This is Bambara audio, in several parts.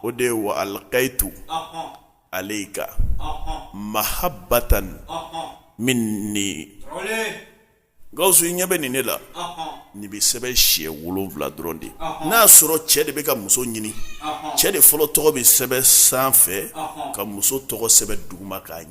o de ye wa alikayitu aleyika mahabatan minni gawusu i ɲɛ bɛ nin ne la nin bɛ sɛbɛn siɲɛ wolonwula dɔrɔn de n'a y'a sɔrɔ cɛ de bɛ ka muso ɲini cɛ de fɔlɔ tɔgɔ bɛ sɛbɛn sanfɛ ka muso tɔgɔ sɛbɛn duguma k'a ɲɛ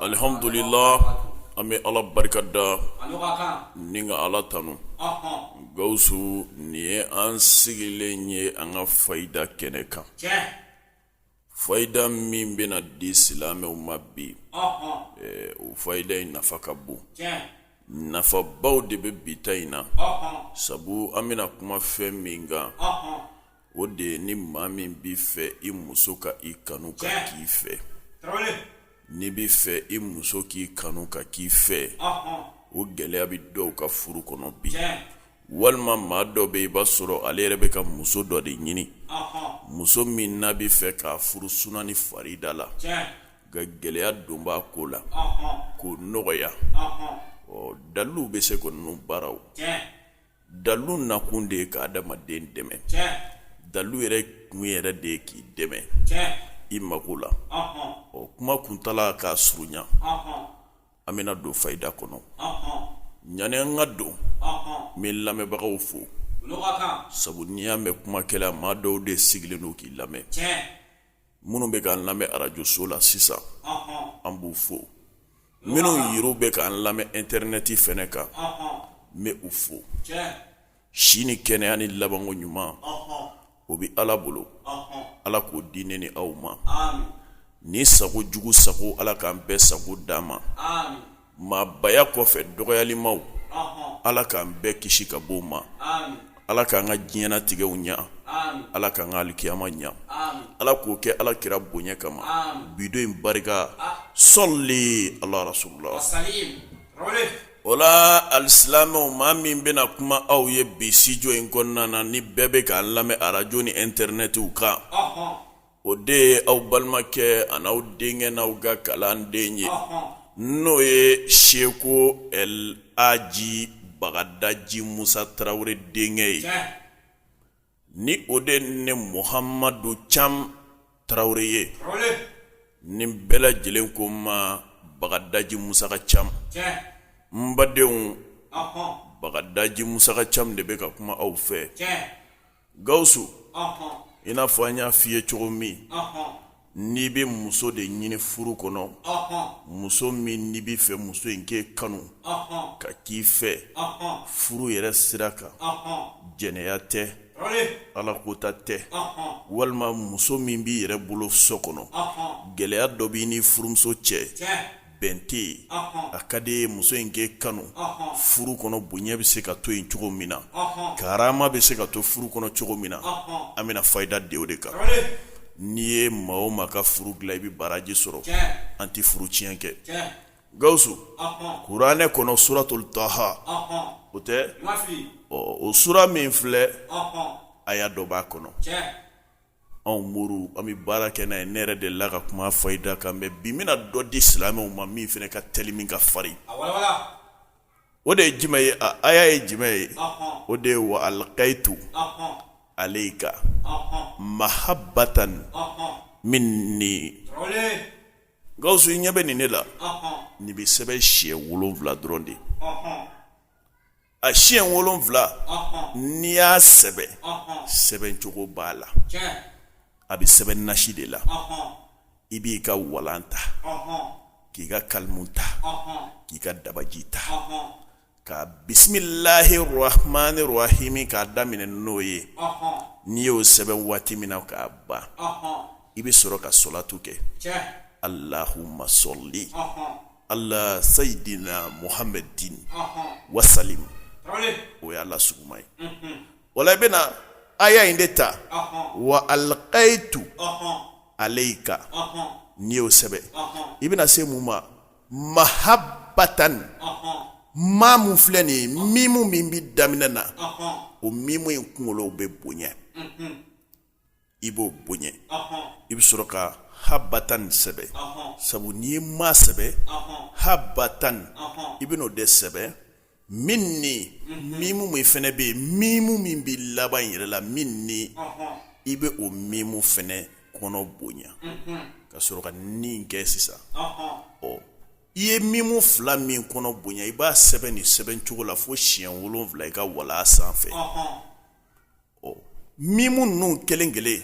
Alihamdulila an bɛ ala barika da ni ka ala tanu gawusu nin ye an sigilen ye an ka fayida kɛnɛ kan fayida min bɛna di silamɛw ma bi o fayida in nafa ka bon nafabaw de bɛ bi ta in na sabu an bɛna kuma fɛn min kan o de ye ni maa min b'i fɛ i muso ka i kanu ka k'i fɛ n'i b'i fɛ i muso k'i kanu ka k'i fɛ o gɛlɛya bɛ dɔw ka furu kɔnɔ bi walima maa dɔ bɛ i b'a sɔrɔ ale yɛrɛ bɛ ka muso dɔ de ɲini muso min n'a b'a fɛ k'a furu suna ni farida la nka gɛlɛya dɔ b'a ko la k'o nɔgɔya ɔ dalu bɛ se ko ninnu baaraw dalu nakun de ye ka adamaden dɛmɛ dalu yɛrɛ kun yɛrɛ de ye k'i dɛmɛ i mako la ɔ kuma kuntaala k'a surunya an bɛna don fayida kɔnɔ ɲani an ka don n bɛ lamɛnbagaw fo sabu n'i y'a mɛn kumakɛla maa dɔw de sigilen don k'i lamɛn minnu bɛ k'an lamɛn arajoso la sisan an b'u fo minnu yɛrɛ bɛ k'an lamɛn ɛntɛrinɛti fɛnɛ kan n bɛ u fo si ni kɛnɛya ni labanko ɲuman o bɛ ala bolo ala k'o di ne ni aw ma ni sago jugu sago ala k'an bɛɛ sago d'an ma maabaya kɔfɛ dɔgɔyalimaw ala k'an bɛɛ kisi ka bɔ o ma ala k'an ka diɲɛnatigɛw ɲa ala k'an ka alikiyama ɲa ala k'o kɛ ala kira bonya kama bi don in barika sɔli ala rasululahi o la alisilamɛw maa min bɛna kuma aw ye bi sitidiyo in kɔnɔna na ni bɛɛ bɛ k'an lamɛn arajo ni ɛntɛrinɛtiw kan o de ye aw balimakɛ ani aw denkɛ n'aw ka kalanden ye n'o ye seko laji bagadaji musa tarawele denkɛ ye ni o de ne muhamadu cam tarawele ye ni bɛɛ lajɛlen ko n ma bagadaji musa ka cam n badenw bagadaji musa ka cam de bɛ ka kuma aw fɛ gawusu i n'a fɔ an y'a f'i ye cogo min n'i bɛ muso de ɲini furu kɔnɔ muso min n'i b'a fɛ muso in k'e kanu ka k'i fɛ furu yɛrɛ sira kan jɛnɛya tɛ ala kota tɛ walima muso min b'i yɛrɛ bolo so kɔnɔ gɛlɛya dɔ b'i ni furumuso cɛ bɛn tɛ yen a ka d'i ye muso in k'e kanu furu kɔnɔ bonya bɛ se ka to yen cogo min na karama bɛ se ka to furu kɔnɔ cogo min na an bɛna fayida di o de kan n'i ye maa o maa ka furu dilan i bɛ baraji sɔrɔ an tɛ furu tiɲɛ kɛ gawusu kuranɛ kɔnɔ suratul taha o tɛ o sura min filɛ aya dɔ b'a kɔnɔ anw muru an bɛ baara kɛ n'a ye ne yɛrɛ de la ka kuma fayida kan mɛ bi n bɛna dɔ di silamɛw ma min fana ka teli min ka farin o de ye jumɛn ye a aya ye jumɛn ye o de ye wa alkayitu alayika mahabatan mini gawusu i ɲɛ bɛ nin ne la nin bɛ sɛbɛn siɲɛ wolonwula dɔrɔn de ye a siɲɛ wolonwula n'i y'a sɛbɛn sɛbɛncogo b'a la a bɛ sɛbɛn nasi de la i b'i ka walan ta k'i ka kalimu ta k'i ka dabaji ta ka bisimilahi rahamani rahimi k'a daminɛ n'o ye n'i y'o sɛbɛn waati min na k'a ban i bɛ sɔrɔ ka salatu kɛ alahuma sali ala sayidina muhamadin wa salim o ye ala suma ye wala i bɛna aya in de ta wa alkayitu alayika n'i y'o sɛbɛn i bɛna se mun ma mahabatan maa min filɛ nin ye mimu min bɛ daminɛ na o mimu in kunkolo bɛ bonya i b'o bonya i bɛ sɔrɔ ka habatan sɛbɛn sabu n'i ye maa sɛbɛn habatan i bɛn'o de sɛbɛn mini mimu min fana bɛ yen mimu min bɛ laban in yɛrɛ la mini i bɛ o mimu fana kɔnɔ bonya ka sɔrɔ ka nin kɛ sisan ɔ i ye mimu fila min kɔnɔ bonya i b'a sɛbɛn nin sɛbɛncogo la fo siɲɛ wolonwula i ka walan sanfɛ Mimu ninnu kelen kelen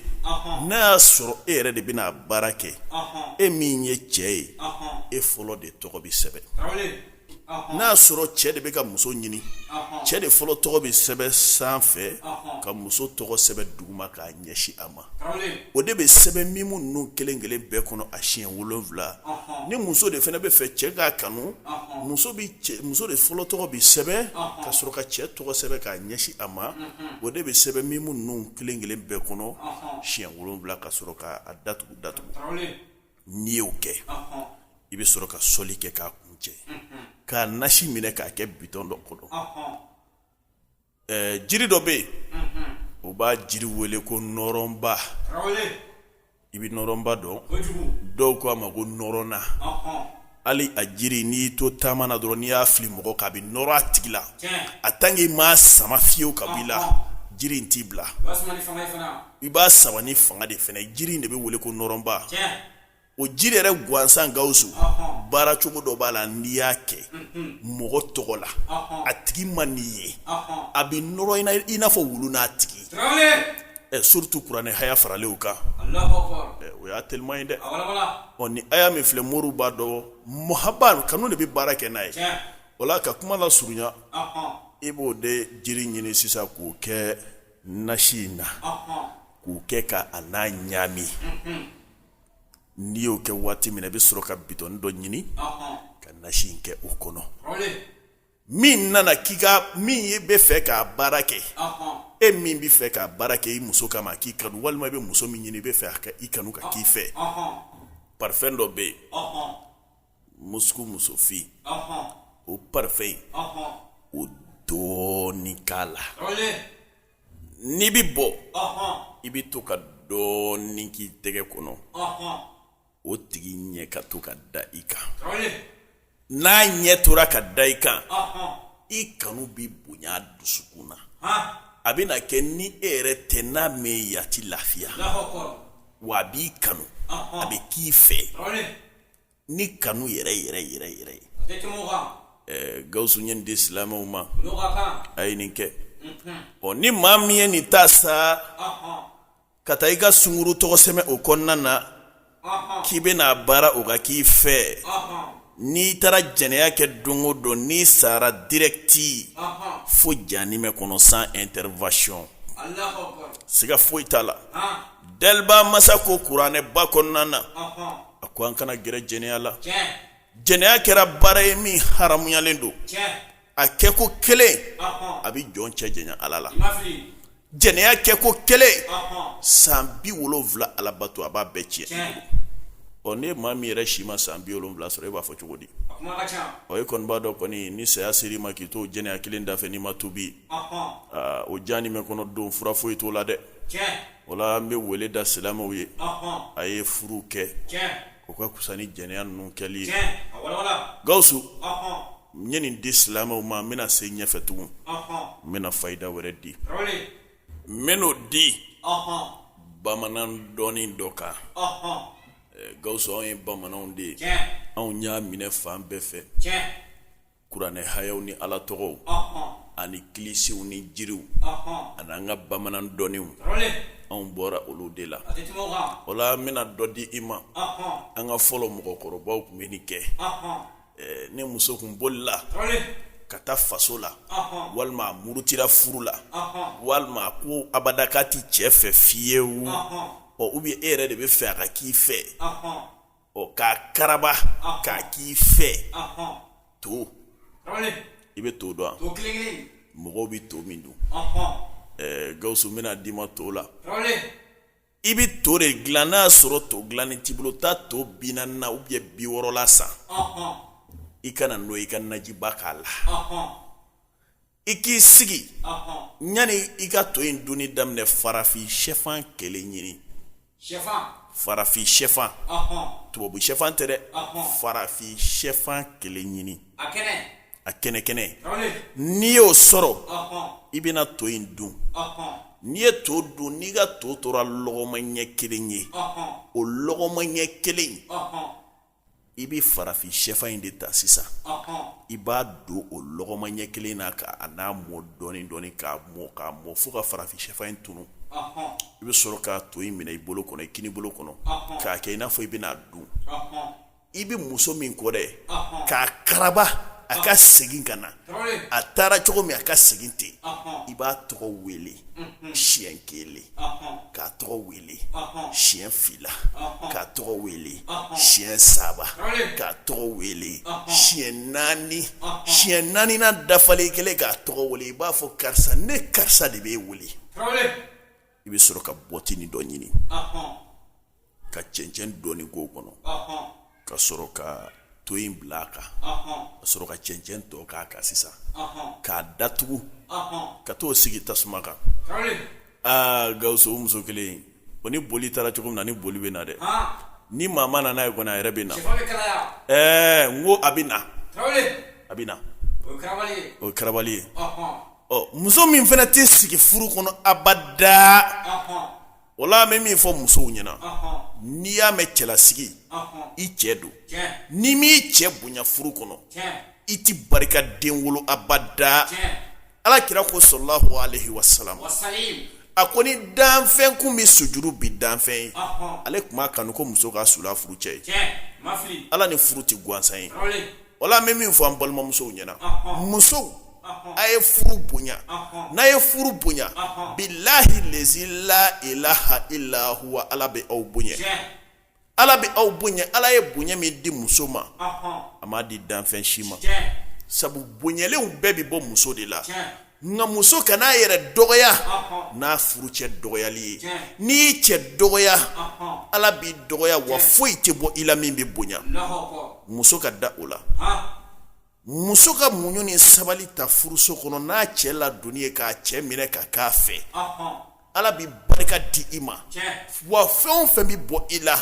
n'a y'a sɔrɔ e yɛrɛ de bɛna baara kɛ e min ye cɛ ye e fɔlɔ de tɔgɔ bɛ sɛbɛn n'a y'a sɔrɔ cɛ de bɛ ka muso ɲini cɛ de fɔlɔ tɔgɔ bɛ sɛbɛn sanfɛ ka muso tɔgɔ sɛbɛn duguma k'a ɲɛsin a ma o de bɛ sɛbɛn mimu ninnu kelen kelen bɛɛ kɔnɔ a siɲɛ wolonwula ni muso de fana bɛ fɛ cɛ k'a kanu muso de fɔlɔ tɔgɔ bɛ sɛbɛn ka sɔrɔ ka cɛ tɔgɔ sɛbɛn k'a ɲɛsin a ma o de bɛ sɛbɛn mimu ninnu kelen kelen bɛɛ kɔnɔ siɲɛ wolonwula ka sɔrɔ k'a datugu datugu n'i y'o kɛ i bɛ sɔrɔ ka sɔli kɛ k'a kuncɛ k'a nasi minɛ k'a kɛ bitɔn dɔ kɔnɔ ɛɛ jiri dɔ bɛ yen u b'a jiri wele ko nɔrɔnba i bɛ nɔrɔnba dɔn dɔw ko a ma ko nɔrɔnna hali a jiri n'i y'i to taama na dɔrɔn n'i y'a fili mɔgɔ kan a bɛ nɔrɔ a tigi la en tant que i m'a sama fiyewu ka bɔ i la jiri in t'i bila i b'a sama ni fanga de fana ye jiri in de bɛ wele ko nɔrɔnba. o jiri yɛrɛ gansan gawusu baara cogo dɔ b'a la n'i y'a kɛ mɔgɔ tɔgɔ la a tigi ma n'i ye a bɛ nɔrɔ i n'a fɔ wulu n'a tigi surtout kuranɛ haya faralen kan o y'a teliman ye dɛ ɔ ni aya min filɛ moriw b'a dɔn muhaba kanu de bɛ baara kɛ n'a ye wala ka kuma lasurunya i b'o de jiri ɲini sisan k'o kɛ nasi in na k'o kɛ ka a n'a ɲagami n'i y'o kɛ waati min na i bɛ sɔrɔ ka bitɔn dɔ ɲini ka nasi in kɛ o kɔnɔ min nana k'i ka min e bɛ fɛ k'a baara kɛ e min bɛ fɛ k'a baara kɛ i muso kama k'i kanu walima i bɛ muso min ɲini i bɛ fɛ ka i kanu ka k'i fɛ parfɛn dɔ bɛ yen musuku musofin o parfɛn in o dɔɔnin k'a la n'i bɛ bɔ i bɛ to ka dɔɔnin k'i tɛgɛ kɔnɔ o tigi ɲɛ ka to ka da i kan n'a ɲɛ tora ka da i kan i kanu bɛ bonya dusukun na a bɛna kɛ ni e yɛrɛ tɛ n'a m'e ye a tɛ lafiya wa a b'i kanu a bɛ k'i fɛ ni kanu yɛrɛ yɛrɛ yɛrɛ yɛrɛ gawusu ye nin di silamɛw ma a ye nin kɛ ɔ ni maa min ye nin ta sa ka taa i ka sungurun tɔgɔ sɛbɛn o kɔnɔna na k'i bɛna a baara o ka k'i fɛ n'i taara jɛnɛya kɛ don o don n'i sara direct fo janimɛ kɔnɔ sans intervention siga foyi t'a la dɛliba masa ko kuranɛ ba kɔnɔna na a ko an kana gɛrɛ jɛnɛya la jɛnɛya kɛra baara ye min haramuyalen don a kɛ ko kelen a bɛ jɔn cɛ janya ala la jɛnɛya kɛ ko kelen san bi wolowula alabato a b'a bɛɛ cɛn ɔ ni e maa min yɛrɛ si ma san bi wolowula sɔrɔ e b'a fɔ cogo di ɔ e kɔni b'a dɔn kɔni ni saya ser'i ma k'i to jɛnɛya kelen dafɛ n'i ma tubi o janimɛ kɔnɔ don fura foyi t'o la dɛ o la an bɛ weele da silamɛw ye a ye furu kɛ o ka kusa ni jɛnɛya ninnu kɛli ye gawusu n ye nin di silamɛw ma n bɛna se ɲɛfɛ tugun n bɛna fayida wɛrɛ di n bɛn'o di bamanan dɔnni dɔ kan gawusu anw ye bamananw de ye anw y'a minɛ fan bɛɛ fɛ kuranɛ hayaw ni ala tɔgɔw ani kilisiw ni jiriw ani an ka bamanan dɔnniw anw bɔra olu de la o la n bɛna dɔ di i ma an ka fɔlɔ mɔgɔkɔrɔbaw tun bɛ nin kɛ ni muso tun bolila ka taa faso la walima a murutira furu la walima a ko abada k'a tɛ cɛ fɛ fiyewu ubiyɛn e yɛrɛ de bɛ fɛ a ka k'i fɛ ɔ k'a karaba k'a k'i fɛ to i bɛ to dɔn mɔgɔw bɛ to min dun gawusu n bɛna d'i ma to la i bɛ to de dilan n'a y'a sɔrɔ to dilannen t'i bolo taa to bi naani na ubiyɛn bi wɔɔrɔ la san i ka na n'o i ka najiba k'a la i k'i sigi yanni i ka to in dunni daminɛ farafin shɛfan kelen ɲini farafin shɛfan tubabu shɛfan tɛ dɛ farafin shɛfan kelen ɲini a kɛnɛ kɛnɛ n'i y'o sɔrɔ i bɛna to in dun n'i ye to dun n'i ka to tora lɔgɔma ɲɛ kelen ye o lɔgɔma ɲɛ kelen i bɛ farafin shɛfan in de ta sisan i b'a don o lɔgɔma ɲɛ kelen na ka a n'a mɔ dɔɔni dɔɔni k'a mɔ k'a mɔ fo ka farafin shɛfan in tunu i bɛ sɔrɔ ka to in minɛ i bolo kɔnɔ i kini bolo kɔnɔ k'a kɛ i n'a fɔ i bɛna dun i bɛ muso min kɔ dɛ k'a karaba a ka segin ka na a taara cogo min a ka segin ten i b'a tɔgɔ wele siɲɛ kelen k'a tɔgɔ wele siɲɛ fila k'a tɔgɔ wele siɲɛ saba k'a tɔgɔ wele siɲɛ naani siɲɛ naaninan dafalen kelen k'a tɔgɔ wele i b'a fɔ karisa ne karisa de b'e wele i bɛ sɔrɔ ka bɔtinin dɔ ɲini ka cɛncɛn dɔɔni k'o kɔnɔ ka sɔrɔ ka to in bila a kan ka sɔrɔ ka cɛncɛn tɔ k'a kan sisan k'a datugu ka taa o sigi tasuma kan aa gawusu o muso kelen o ni boli taara cogo min na ni boli bɛ na dɛ ni maa ma na n'a ye kɔni a yɛrɛ bɛ na ɛɛ n ko a bɛ na a bɛ na o ye karabali ye muso min fana tɛ sigi furu kɔnɔ abada wala n bɛ min fɔ musow ɲɛna n'i y'a mɛn cɛlasigi i cɛ don n'i m'i cɛ bonya furu kɔnɔ i tɛ barika den wolo abada ala kira ko sallallahu alayhi wasallam a ko ni danfɛn kun bɛ sujuru bi danfɛn ye ale tun b'a kanu ko muso ka sul'a furu cɛ ye ala ni furu tɛ gansan ye wala n bɛ min fɔ an balimamusow ɲɛna musow a ye furu bonya n'a ye furu bonya bilahi lezi la ilaha ila huwa ala bɛ aw bonya ala bɛ aw bonya ala ye bonya min di muso ma a m'a di danfɛn si ma sabu bonyalenw bɛɛ bɛ bɔ muso de la nka muso kan'a yɛrɛ dɔgɔya n'a furu cɛ dɔgɔyali ye n'i y'i cɛ dɔgɔya ala b'i dɔgɔya wa foyi tɛ bɔ i la min bɛ bonya muso ka da o la muso ka muɲu ni sabali ta furuso kɔnɔ n'a cɛ ladonni ye k'a cɛ minɛ ka k'a fɛ ala bɛ barika di i ma wa fɛn o fɛn bɛ bɔ i la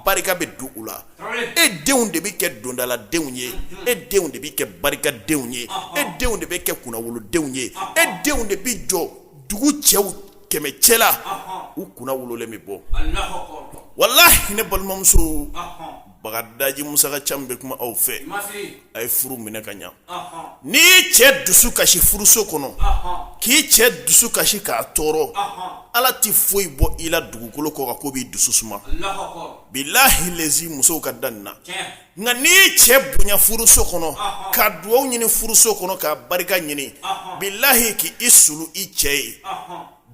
barika bɛ don u la e denw de bɛ kɛ dondaladenw ye e denw de bɛ kɛ barikadenw ye e denw de bɛ kɛ kunnawolodenw ye e denw de bɛ jɔ dugu cɛw kɛmɛ cɛla u kunnawololen bɛ bɔ walahi ne balimamuso bagadaji musa ka ca bɛ kuma aw fɛ a ye furu minɛ ka ɲa n'i y'i cɛ dusu kasi furuso kɔnɔ k'i cɛ dusu kasi k'a tɔɔrɔ ala tɛ foyi bɔ i la dugukolo kɔ kan k'o b'i dusu suma bilahi lezi musow ka da nin na nka n'i y'i cɛ bonya furuso kɔnɔ ka dugaw ɲini furuso kɔnɔ ka barika ɲini bilahi k'i sulu i cɛ ye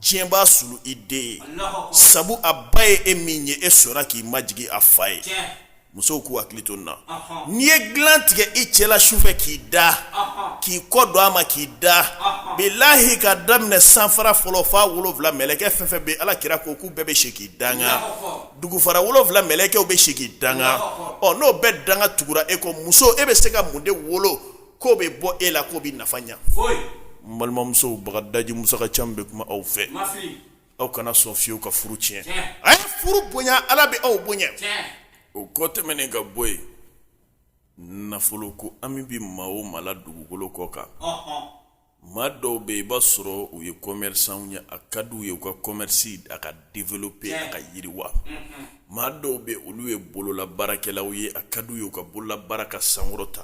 diɲɛ b'a sulu i den ye sabu a ba ye e min ye e sɔnna k'i majigin a fa ye musow k'u hakili to nin na n'i ye dilan tigɛ i cɛ la sufɛ k'i da k'i kɔ don a ma k'i da bilahi ka daminɛ sanfara fɔlɔ f'a wolowula mɛlɛkɛ fɛn fɛn bɛ ala kira ko k'u bɛɛ bɛ si k'i danga dugufara wolowula mɛlɛkɛw bɛ si k'i danga ɔ n'o bɛɛ danga tugura e kɔ muso e bɛ se ka mun de wolo k'o bɛ bɔ e la k'o bɛ nafa ɲa n balimamusow bagadaji musa ka ca bɛ kuma aw fɛ aw kana sɔn fiyewu ka furu tiɲɛ a ye furu bonya ala bɛ aw bonya o kɔ tɛmɛnen ka bɔ yen nafolo ko hami bɛ maa o maa la dugukolo kɔ kan maa dɔw bɛ i b'a sɔrɔ u ye kɔmɛrisanw ye a ka di u ye u ka kɔmɛrisi a ka développer a ka yiriwa maa dɔw bɛ olu ye bololabaarakɛlaw ye a ka di u ye u ka bololabaara ka sankɔrɔta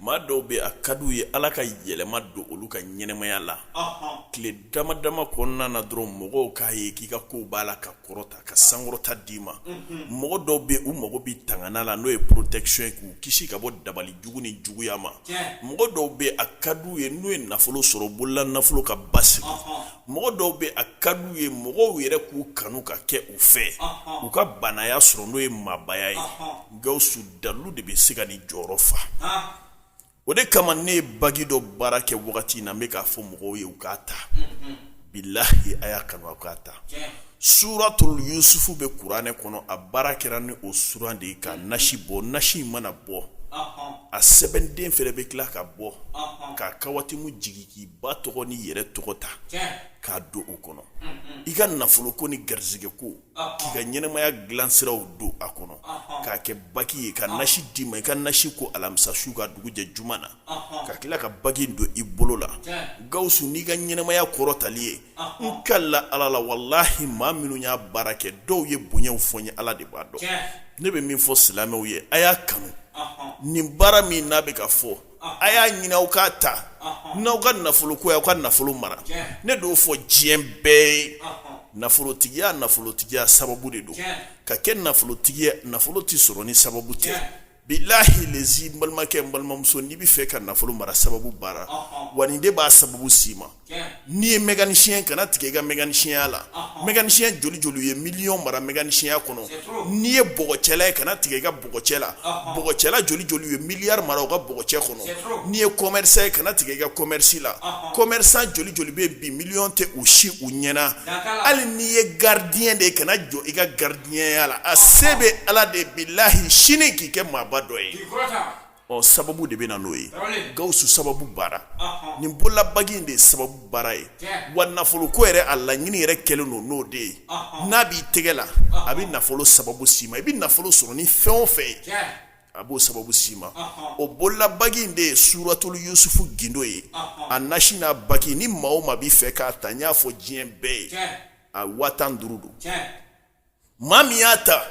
maa dɔw bɛ a ka di u ye ala ka yɛlɛma don olu ka ɲɛnamaya la tile dama dama kɔnɔna na dɔrɔn mɔgɔw k'a ye k'i ka kow b'a la ka kɔrɔta ka sankɔrɔta d'i ma mɔgɔ dɔw bɛ u mago bɛ tangana la n'o ye protection ye k'u kisi ka bɔ dabali jugu ni juguya ma mɔgɔ dɔw bɛ a ka d'u ye n'u ye nafolo sɔrɔ bolola nafolo ka basigi mɔgɔ dɔw bɛ a ka d'u ye mɔgɔw yɛrɛ k'u kanu ka kɛ u fɛ u ka baanaya sɔrɔ n'o ye maabaya ye gawusu dalu de bɛ se ka nin jɔyɔrɔ fa o de kama ne ye bagi dɔ baara kɛ wagati in na n bɛ k'a fɔ mɔgɔw ye u k'a ta bilahi a y'a kanu a k'a ta suratul yusufu bɛ kuranɛ kɔnɔ a baara kɛra ni o suran de ye ka nasi bɔ nasi in mana bɔ a sɛbɛnden fɛnɛ bɛ tila ka bɔ k'a kawatimu jigin k'i ba tɔgɔ n'i yɛrɛ tɔgɔ ta k'a don o kɔnɔ i ka nafolo ko ni garisɛgɛ ko k'i ka ɲɛnɛmaya dilansiraw don a kɔnɔ k'a kɛ baki ye ka nasi d'i ma i ka nasi ko alamisa su ka dugujɛ juma na ka tila ka bagi don i bolo la gawusu n'i ka ɲɛnɛmaya kɔrɔtali ye n kala ala la walahi maa minnu y'a baara kɛ dɔw ye bonyaw fɔ n ye ala de b'a dɔn ne bɛ min fɔ silamɛw ye a y'a kanu nin baara min n bɛ k'a fɔ a y'a ɲini aw k'a ta n'aw ka nafolo ko ye aw ka nafolo mara ne d'o fɔ diɲɛ bɛɛ ye nafolotigiya nafolotigiya sababu de don ka kɛ nafolotigi ye nafolo tɛ sɔrɔ ni sababu tɛ Bilahi lezi n balimakɛ n balimamuso n'i bɛ fɛ ka nafolo mara sababu baara wa nin de b'a sababu s'i ma n'i ye mécanicien kana tigɛ i ka mécanicienya la mécanicien joli joli ye miliyɔn mara mécanicienya kɔnɔ n'i ye bɔgɔcɛla ye kana tigɛ i ka bɔgɔcɛ la bɔgɔcɛla joli joli ye miliyari mara u ka bɔgɔcɛ kɔnɔ n'i ye commerçant ye kana tigɛ i ka commerce la commerçant joli joli bɛ bi miliyɔn tɛ fosi u ɲɛna hali n'i ye gardien de ye kana jɔ i ka garidi ɲɛya la a se bɛ ala de bilahi sini k'i kɛ maaba dɔ ye ɔ sababu de bɛ na n'o ye gawusu sababu baara nin bololabagi in de ye sababu baara ye wa nafolo ko yɛrɛ a laɲini yɛrɛ kɛlen don n'o de ye n'a b'i tɛgɛ la a bɛ nafolo sababu s'i ma i bɛ nafolo sɔrɔ ni fɛn o fɛn ye a b'o sababu s'i ma o bololabagi in de ye suratul yusufu gindo ye a nasi n'a bagi ni maa o maa b'i fɛ k'a ta n y'a fɔ diɲɛ bɛɛ ye a waa tan duuru don maa min y'a ta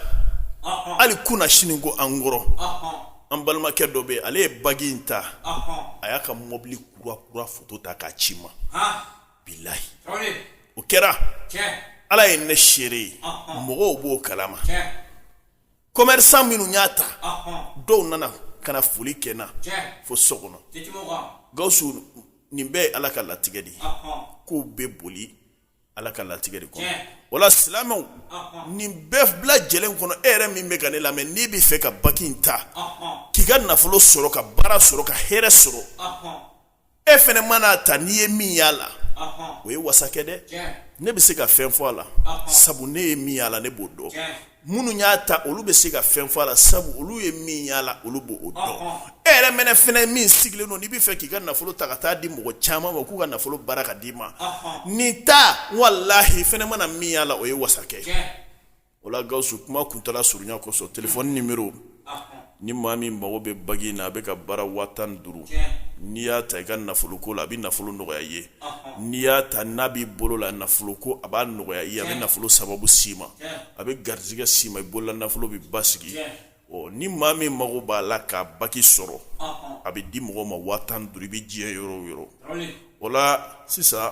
hali kunnasini ko an kɔrɔ an balimakɛ dɔ bɛ ale ye bagi in ta a y'a ka mobili kura kura foto ta k'a ci n ma bilahi o kɛra ala ye ne seere ye mɔgɔw b'o kalama commerçant minnu y'a ta dɔw nana ka na foli kɛ n na fo so kɔnɔ gawusu nin bɛɛ ye ala ka latigɛ de ye ko bɛ boli ala ka latigɛ de kɔnɔ wala silamɛw nin bɛɛ bi lajɛlen kɔnɔ e yɛrɛ min bɛ ka ne lamɛn n'i bɛ fɛ ka baki in ta k'i ka nafolo sɔrɔ ka baara sɔrɔ ka hɛrɛ sɔrɔ e fɛnɛ man'a ta n'i ye min y'a la o ye wasa kɛ dɛ ne bɛ se ka fɛn fɔ a la sabu ne ye min y'a la ne b'o dɔn minnu y'a ta olu bɛ se ka fɛn fɔ a la sabu olu ye min y'a la olu b'o dɔn e yɛrɛ mɛnɛ fɛnɛ min sigilen don n'i b'a fɛ k'i ka nafolo ta ka taa di mɔgɔ caman ma k'u ka nafolo baara k'a d'i ma nin ta walahi fɛnɛ mana min y'a la o ye wasa kɛ o la Gawusu kuma kuntaala surunya kosɔn telefɔni ni maa min mago bɛ bagi in na a bɛ ka baara waa tan duuru n'i y'a ta i ka nafolo ko la a bɛ nafolo nɔgɔya i ye n'i y'a ta n'a b'i bolo la nafolo ko a b'a nɔgɔya i ye a bɛ nafolo sababu s'i ma a bɛ garijɛgɛ s'i ma i bolola nafolo bɛ basigi ɔ ni maa min mago b'a la ka bagi sɔrɔ a bɛ di mɔgɔ ma waa tan duuru i bɛ diɲɛ yɔrɔ o yɔrɔ o la sisan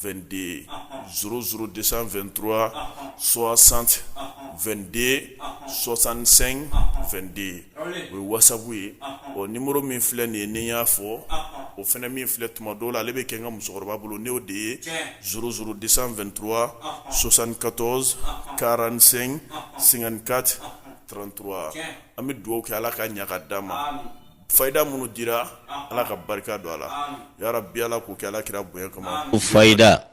2den szouru de santura sɔsan den sɔsansen den o ye wasabu ye ɔ ni muru min filɛ nin ye ni y'a fɔ o fana min filɛ tuma dɔw la ale bɛ kɛ n ka musokɔrɔba bolo n'o de ye szouru de santura sɔsan katɔ kalanransɛgin senka trantura an bɛ dugawu kɛ ala ka ɲaga d ma fayida minnu dira Ala ka barika don a la yarabi Ala k'o kɛ Ala kira bonya kama fayida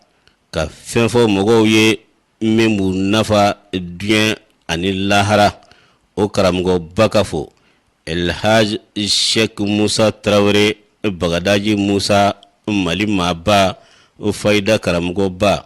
ka fɛn fɔ mɔgɔw ye min b'u nafa diɲɛ ani lahara o karamɔgɔba ka fɔ El Hadj Sɛki Musa Tarawele Bagadaji Musa Mali maaba fayida karamɔgɔba